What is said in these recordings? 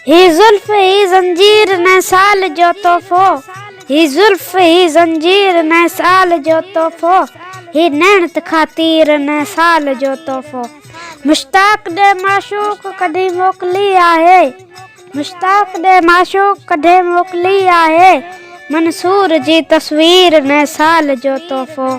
هي زلف هي زنجير نئين سال جو تحفو هي زلف هي زنجير نئين سال جو تحفو هي نيڻ تکا تير نئين سال جو تحفو مشتاق ڏي معشوق ڪڍي موڪلي آهي مشتاق ڏي معشوق ڪڍي موڪلي آهي منصور جي تصوير نئين سال جو تحفو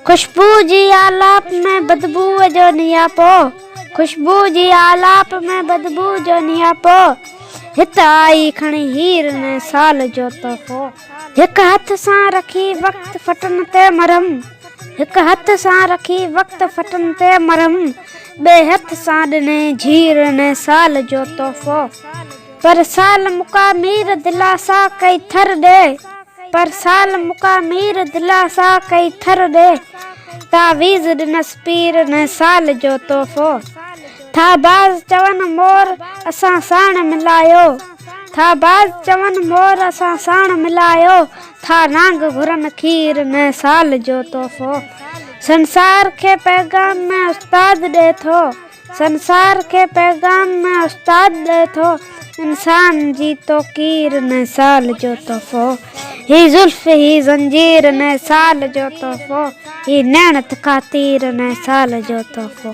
خوشبو جي آلاپ ۾ بدبو جو نياپو خوشبو جي آلاپ ۾ بدبو جو نياپو هت آئي کڻي هير ۾ سال جو تحفو هڪ هٿ سان رکي وقت ڦٽن تي مرهم هڪ هٿ سان رکي وقت ڦٽن تي مرهم ٻئي هٿ سان ڏني جھير ۾ سال جو تحفو پر سال مڪا مير دلاسا ڪئي ٿر ڏي پر سال مڪا مير دلاسا ڪئي ٿر ڏي تعويذ ڏنس پير نئين سال جو تحفو ٿا باز چون مور اسان ساڻ ملايو ٿا باز چون مور اسان ساڻ ملايو ٿا نانگ گهرن کير نئين سال جو تحفو سنسار کي پيغام ۾ استاد ڏي ٿو. سنسار کي پيغام نه استاد ڏئي ٿو انسان جي توقير نه سال جو تحفو هي زلف هي زنجير نه سال جو تحفو هي نيڻ تکا تير نه سال جو تحفو.